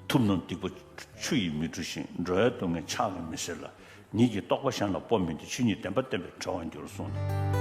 ཐུབ་ནོ་སྡིག་པ་ཆུ་ཡིས་མི་འཁྲུ་ཞིང་འགྲོ་བའི་སྡུག་བསྔལ་ཆགས་ལ་མི་ཟེར་ལ། ཉིད་ཀྱིས་རྟོགས་པ་གཞན་ལ་སྤོབས་མི་འདོད་ཆོས་ཉིད་བདེན་པ་བསྟན་པས་གྲོལ་བར་འགྱུར་གསུངས་ཏེ།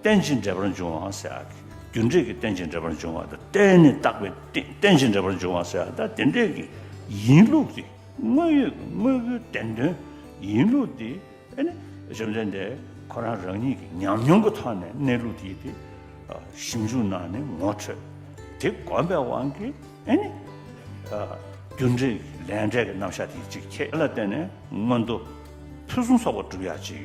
རྟེན་ཅིང་འབྲེལ་པར་འབྱུང་བའང་སེལ། རྒྱུ་འབྲས་ཀྱི་རྟེན་ཅིང་འབྲེལ་པར་འབྱུང་བ་དང་རྟེན་ནི་བཏགས་པའི་རྟེན་ཅིང་འབྲེལ་པར་འབྱུང་བ་སེལ། དེ་འབྲས་ཀྱི་ཡིན་ལུགས་དེ་དངོས་ཡོད་ཀྱི་དངོས་པོའི་བདེན་དོན་ཡིན་ལུགས་དེ་ནི་བཅོམ་ལྡན་འདས་ཁོ་རང་རང་ཉིད་ཀྱི་ཉམས་མྱོང་གི་ཐོག་ནས་གནས་ལུགས་དེ་དེ་ཞིབ་འཇུག་གནང་ནས་ངོ་འཕྲོད་དེ་གོམས་པའི་དབང་གིས་རྒྱུ་འབྲས་ཀྱི་ལས་འབྲས་ཀྱི་རྣམ་གཞག་དེ་གཅིག་ཁྱེད་ལ་བརྟེན་ནས་མངོན་མཐོ་ཕུན་སུམ་ཚོགས་པ་བསྒྲུབ་ཡག་ཅིག།